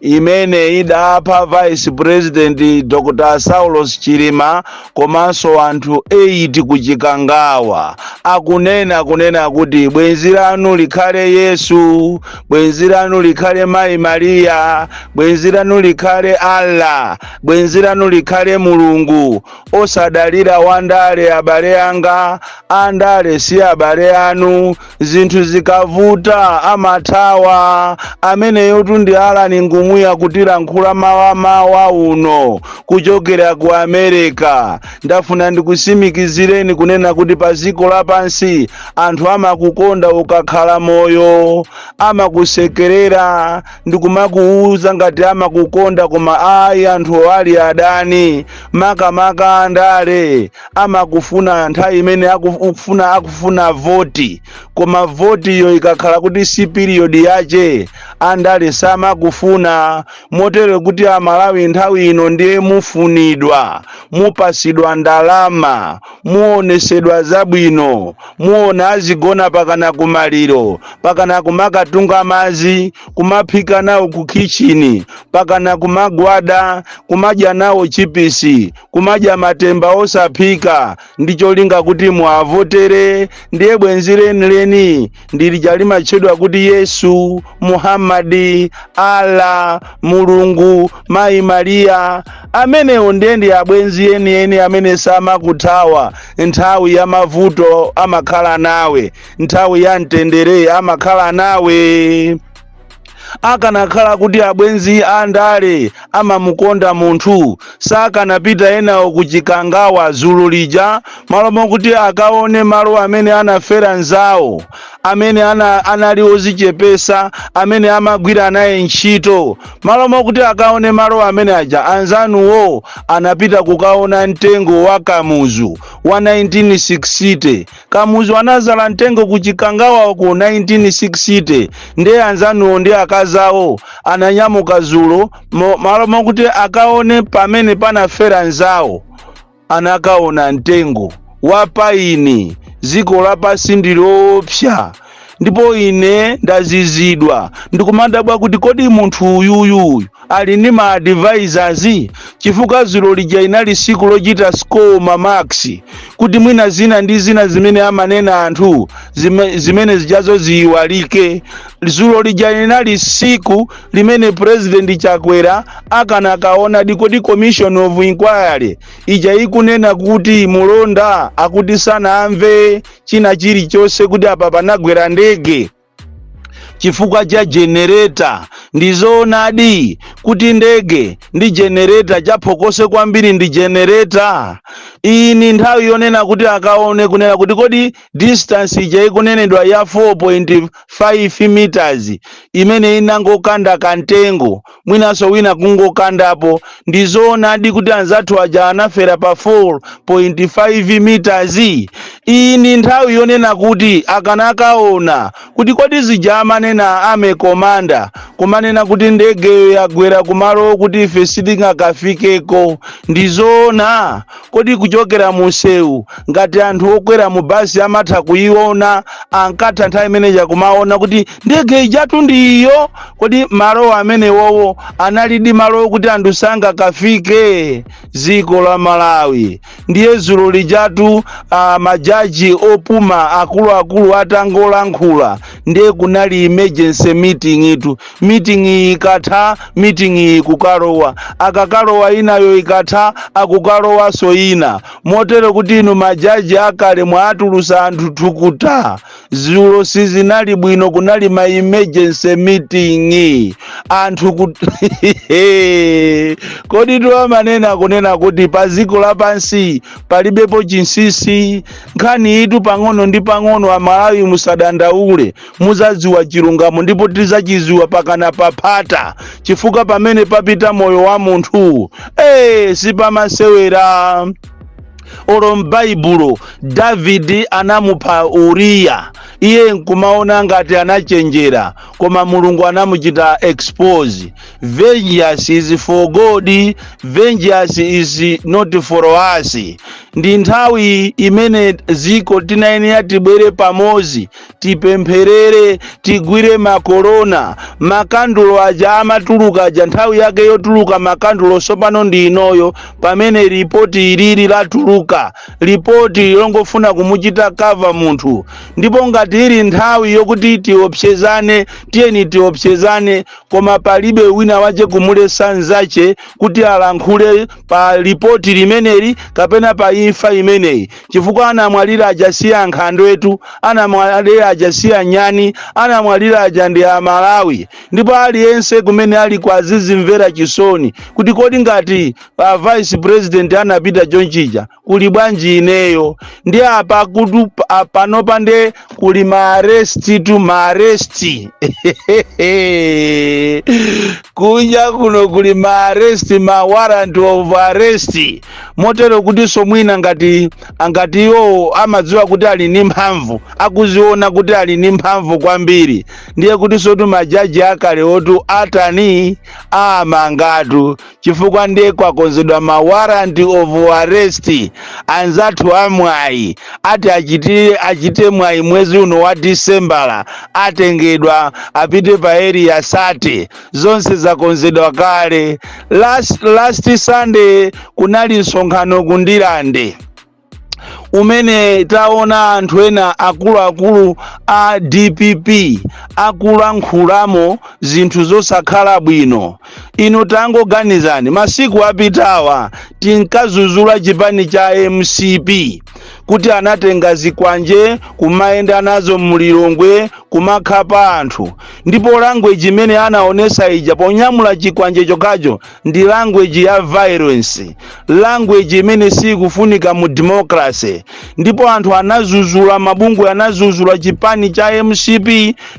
imene idapha vice president dr saulos chilima komanso anthu 8 ku chikangawa akunena kunena kuti bwenzi lanu likhale yesu bwenzi lanu likhale mayi mariya bwenzi lanu likhale allah bwenzi lanu likhale mulungu osadalira wandale abale anga andale si abale anu zinthu zikavuta amathawa ameneyotu ndi alani ngumuya kutilankhula mawa mawa uno kuchokera ku america ndafuna ndikusimikizireni kunena kuti pa dziko lapansi anthu amakukonda ukakhala moyo amakusekerera ndikumakuuza ngati amakukonda koma ayi anthu ali adani makamaka andale amakufuna nthawi imene akufuna voti koma votiyo ikakhala kuti si period yache andale samakufuna motero kuti amalawi nthawi ino ndiye mufunidwa mupasidwa ndalama muonesedwa zabwino muona azigona pakana kumaliro pakana kumakatunga mazi kumaphika nawo ku kitchen pakana kumagwada kumadya nawo chipisi kumadya matemba osaphika ndi cholinga kuti muavotere ndiye bwenzi lenileni ndi lija limatchedwa kuti yesu muhammadi allah mulungu mayi mariya amenewo ndiye ndi abwenzi enieni amene samakuthawa nthawi ya mavuto amakhala nawe nthawi ya mtendere amakhala nawe akanakhala kuti abwenzi a ndale amamukonda munthu sakanapita enawo ku chikangawa zulo lija malo mokuti akaone malo amene anafera nzawo amene ana, anali ozichepesa amene amagwira naye ntchito malo mokuti akaone malo amene aja anzanuwo anapita kukaona mtengo wa kamuzu wa 1960 Kamuzu anazala ntengo ku chikangawako 1960 nde anzanuwo ndi akazawo ananyamuka zulo mo, malo mokuti akaone pamene panafera nzawo anakaona ntengo wa paini ziko lapasi ndiloopsa ndipo ine ndazizidwa ndikumadabwa kuti kodi munthu uyuyu ali ndi ma advisors chifukwa zulo lija inali siku lochita score ma marks kuti mwina zina ndi zina zimene amanena anthu zime, zimene zijazo ziyiwalike zulo lija linali siku limene president chakwera akanakaona dikodi commission of inquiry ija ikunena kuti mulonda akuti sanamve china chilichonse kuti apa panagwera ndege chifukwa cha jenereta ndizoonadi kuti ndege ndi jenereta chaphokoso kwambiri ndi jenereta iyi ni nthawi yonena kuti akaone kunena kuti kodi distance ija ikunenedwa ya 4.5 meters imene inangokanda kantengo mwinanso wina kungokandapo. Ndi zoonadi kuti anzathu aja anafera pa 4.5 meters? Iyi ndi nthawi yonena kuti akanakaona kuti kodi zija amanena a army commander kumanena kuti ndegeyo yagwera kumalo okuti ife sitingakafikeko ndi zoona? Kodi kuchokera mu msewu, ngati anthu okwera mu basi amatha kuiona, ankatha nthawi imeneja kumaona kuti ndege ijatu ndi iyo? Kodi malo amenewowo analidi malo okuti anthu sangakafike? Dziko la Malawi. Ndiye dzulo lijatu ah, majaji opuma akuluakulu atangolankhula ndiye kunali emergency meeting itu meeting iyi ikatha meeting iyi ikukalowa akakalowa inayo ikatha akukalowanso ina motero kuti inu majaji akale mwaatulusa anthu thukuta zulo sizinali bwino kunali ma emergency meeting anthu kut... kodi timanena kunena kuti pa dziko lapansi palibepo chinsinsi nkhani itu pang'ono ndi pang'ono amalawi musadandaule muzadziwa chilungamo ndipo tizachidziwa pachakata paphata chifukwa pamene papita moyo wa munthu ee sipamasewera olo m'baibulo davidi anamupha uriya iye nkumaona ngati anachenjera koma mulungu anamuchita expose vengeance is for god vengeance is not for us ndi nthawi imene dziko tinayenera tibwere pamodzi tipempherere tigwire makolona makandulo aja amatuluka aja nthawi yake yotuluka makandulo tsopano ndi inoyo pamene ripoti ilili latuluka ripoti lilongofuna kumuchita cover munthu ndipo ngati ili nthawi yokuti tiopsezane tiyeni tiopsezane koma palibe wina wache kumulesa nzache kuti alankhule pa ripoti limeneli kapena pa imfa imeneyi chifukwa anamwalira aja si ankhandwetu anamwalira aja si anyani anamwalira aja ndi amalawi ndipo aliyense kumene ali kwao azizimvera chisoni kuti kodi ngati a vice president anapita chonchija kuli bwanji ineyo ndi apa kuti pa- panopa nde kuli maaresti tu maaresti kunja kuno kuli maaresti ma warrant of arrest motero kutinso mwina ngati angati iwowo amadziwa kuti ali ndi mphamvu akuziona kuti ali ndi mphamvu kwambiri ndiye kutinsotu majaji akale otu atani amangatu chifukwa ndiye kwakonzedwa ma warrant of arrest anzathu amwayi ati achitire achite mwayi mwezi uno wa disembala atengedwa apite pa area 30 zonse zakonzedwa kale last sunday kunali msonkhano ku Ndirande umene taona anthu ena akuluakulu a dpp akulankhulamo zinthu zosakhala bwino inu tangoganizani masiku apitawa tinkazuzula chipani cha mcp kuti anatenga zikwanje kumayenda nazo mu Lilongwe kumakhapa anthu ndipo language imene anaonesa ija ponyamula chikwanje chokacho ndi language ya violence language imene sikufunika mu democracy ndipo anthu anazuzula mabungwe anazuzula chipani cha mcp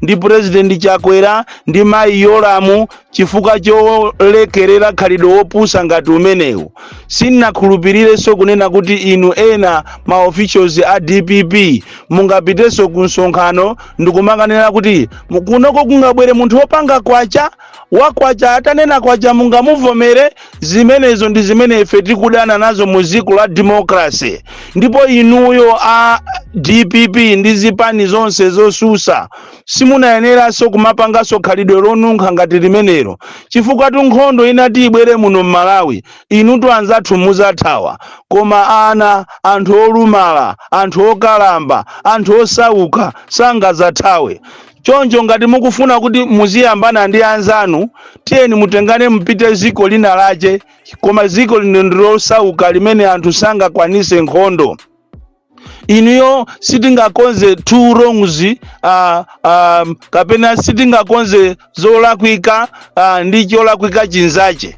ndi president chakwera ndi mayi yolamu chifukwa cholekerera khalidwe wopusa ngati umenewu sinakhulupirirenso kunena kuti inu ena ma officials a dpp mungapitenso ku msonkhano ndikumakanena kuti kunoko kungabwere munthu wopanga kwacha wa kwacha atanena kwacha mungamuvomere zimenezo ndi zimene ife tikudana nazo mu dziko la democracy ndipo inuyo a dpp ndi zipani zonse zosusa simunayeneranso kumapanganso khalidwe lonunkha ngati limenelo chifukwatu nkhondo inati ibwere muno m'malawi inutu anzathu muzathawa koma ana anthu olumala anthu okalamba anthu osauka sangazathawe choncho ngati mukufuna kuti muziyambana ndi anzanu tiyeni mutengane mupite ziko lina lache koma ziko lino ndilosauka limene anthu sangakwanise nkhondo inuyo sitingakonze two wrongs kapena sitingakonze zolakwika ndi cholakwika chinzache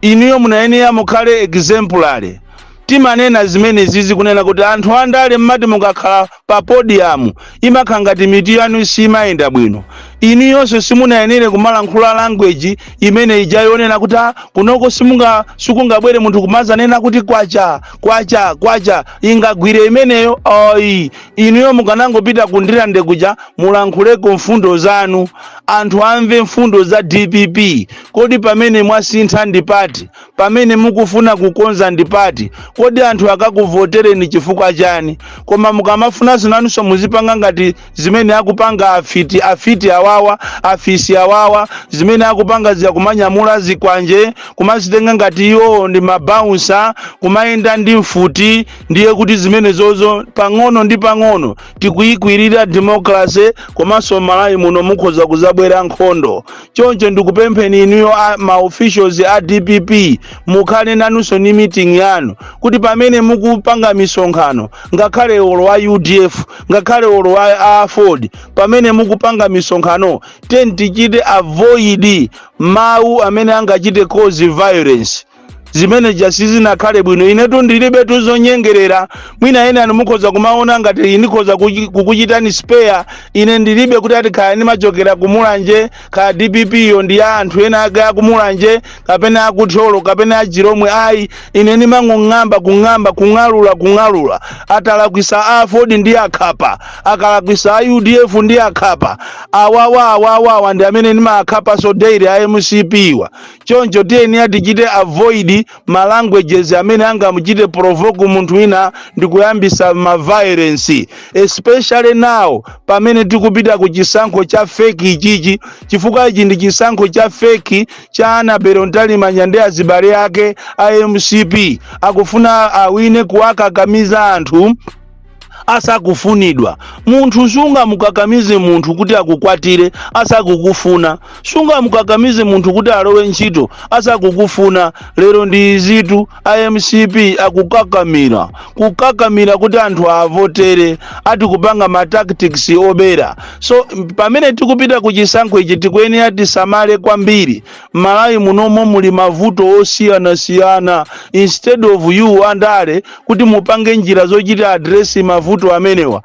inuyo munayenera mukhale exemplary timanena zimenezizi kunena kuti anthu andale mmati mukakhala pa podium imakhala ngati mitu yanu simayenda bwino inuyonso simunayenere kumalankhula language imene ija yonena kuti ah kunoko sikungabwere munthu kumazanena kuti kwacha kwacha kwacha ingagwire imeneyo ayi inuyo mukanangopita ku Ndirande kuja mulankhuleko mfundo zanu anthu amve mfundo za dpp kodi pamene mwasintha ndi pati pamene mukufuna kukonza ndipati kodi anthu akakuvotereni chifukwa chani koma mukamafuna inu nanunso muzipanga ngati zimene akupanga afiti afiti awawa afisi awawa zimene akupanga zija kumanyamula zikwanje kumazitenga ngati iwowo ndi mabaunsa kumayenda ndi mfuti ndiye kuti zimenezozo pang'ono ndi pang'ono tikuyikwirira democracy komanso malawi muno mukhoza kuzabwera nkhondo choncho ndikupempheni inuyo a- ma officials a dpp mukhale nanunso ni meeting yanu kuti pamene mukupanga misonkhano ngakhale olo a udf ngakhale olo wa a aford pamene mukupanga misonkhano tiyeni tichite avoid mawu amene angachite cause violence zimene zija sizinakhale bwino inetu ndilibe tuzonyengerera mwina ena mukhoza kumaona ngati ndikhoza kuchi- kukuchitani spare ine ndilibe kuti ati kaya ndimachokera kumulanje kaya dpp yo ndi ya anthu ena ake akumulanje kapena akutholo kapena achilomwe ayi ine ndimangong'amba kung'amba kung'alula kung'alula atalakwisa a aford ndiakhapa akalakwisa a udf ndiakhapa awawa awawawa ndi amene ndimaakhapanso daily a mcp wa choncho tiyeni tichite avoid ma languages amene angamuchite provoke munthu wina ndi kuyambisa ma violence especially now pamene tikupita ku chisankho cha feki ichichi chifukwa ichi ndi chisankho cha feki cha anabelo mtalimanja ndi azibale ake a mcp akufuna awine kuwakakamiza anthu asakufunidwa munthu sungamukakamize munthu kuti akukwatire asakukufuna sungamukakamize munthu kuti alowe ntchito asakukufuna lero ndi izitu a mcp akukakamira kukakamira kuti anthu avotere ati kupanga ma tactics obera so pamene tikupita ku chisankho ichi tikuyenera tisamale kwambiri mmalawi munomo muli mavuto osiyanasiyana instead of you andale kuti mupange njira zochita address mavuto amenewa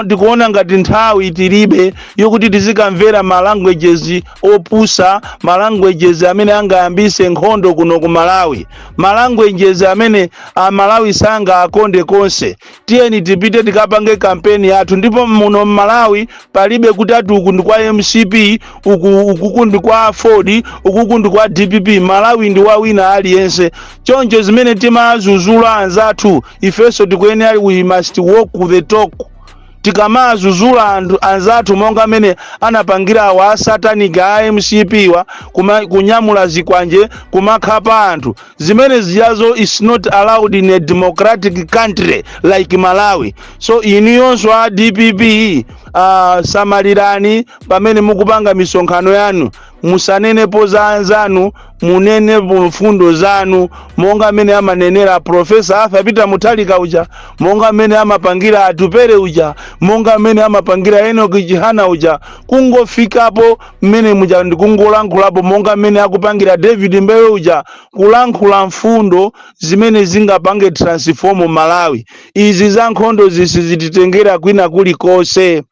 tikuona ngati nthawi tilibe yokuti tizikamvera ma languages opusa ma languages amene angayambise nkhondo kuno ku malawi ma languages amene amalawi sangawakonde konse tiyeni tipite tikapange kampeni yathu ndipo muno mmalawi palibe kuti ati uku ndi kwa mcp ukuku ndi kwa aford ukuku ndi kwa dpp malawi ndi wa wina aliyense choncho zimene timazuzula anzathu ifenso tikuyenera we must walk the talk tikamawazuzula anzathu monga mmene anapangira awa asatanic a mcp wa kuma, kunyamula zikwanje kumakhapa anthu zimene ziyazo is not allowed in a democratic country like malawi so inuyonso a dpp uh, samalirani pamene mukupanga misonkhano yanu musanenepo za anzanu munenepo mfundo zanu monga mmene amanenera profesa arthur peter muthalika uja monga mmene amapangira atupele uja monga mmene amapangira enoki chihana uja kungofikapo mmene muja ndikungolankhulapo monga mmene akupangira david mbewe uja kulankhula mfundo zimene zingapange transform malawi izi za nkhondo sizititengera kwina kulikonse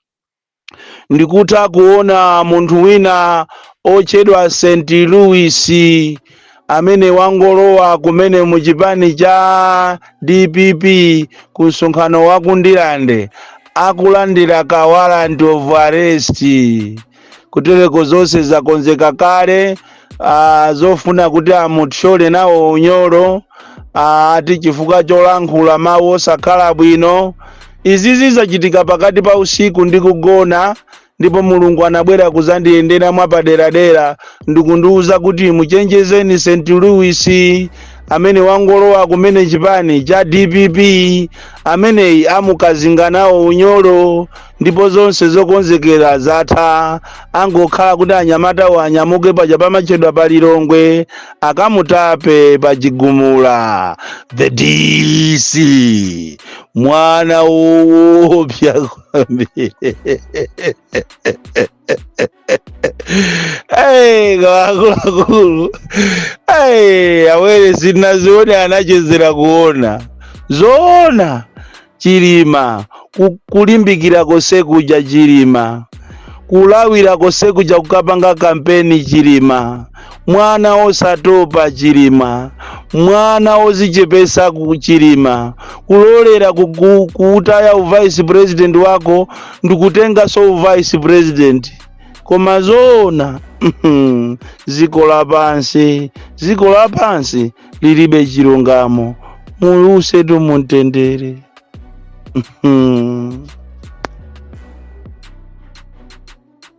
Ndikutha kuona munthu wina otchedwa St Louis amene wangolowa kumene mu chipani cha dpp ku msonkhano wa ku Ndilande akulandira ka warrant of arrest kutereko zonse zakonzeka kale ah, zofuna kuti amuthyole nawo unyolo ah, ati chifukwa cholankhula mawu osakhala bwino izizi zachitika pakati pa usiku ndi kugona ndipo mulungu anabwera kuzandiyendera mwapaderadera ndikundiwuza kuti muchenjezeni st louis amene wangolowa kumene chipani cha dpp ameneyi amukazinga nawo unyolo ndipo zonse zokonzekera zatha angokhala kuti anyamatawo anyamuke paja pamatchedwa pa lilongwe akamtape pa chigumula the dc mwana woopsa kwambiri Hey, akuluakulu hey, awere sinazione anachezera kuona zoona chilima ku- kulimbikira konse kuja chilima kulawira konse kuja kukapanga kampeni chilima mwana wosatopa chilima mwana wozichepesa chilima kulolera kutaya uvice president wako ndikutengaso uvice president koma zoona ziko lapansi ziko lapansi lilibe chilungamo muusetu mumtendere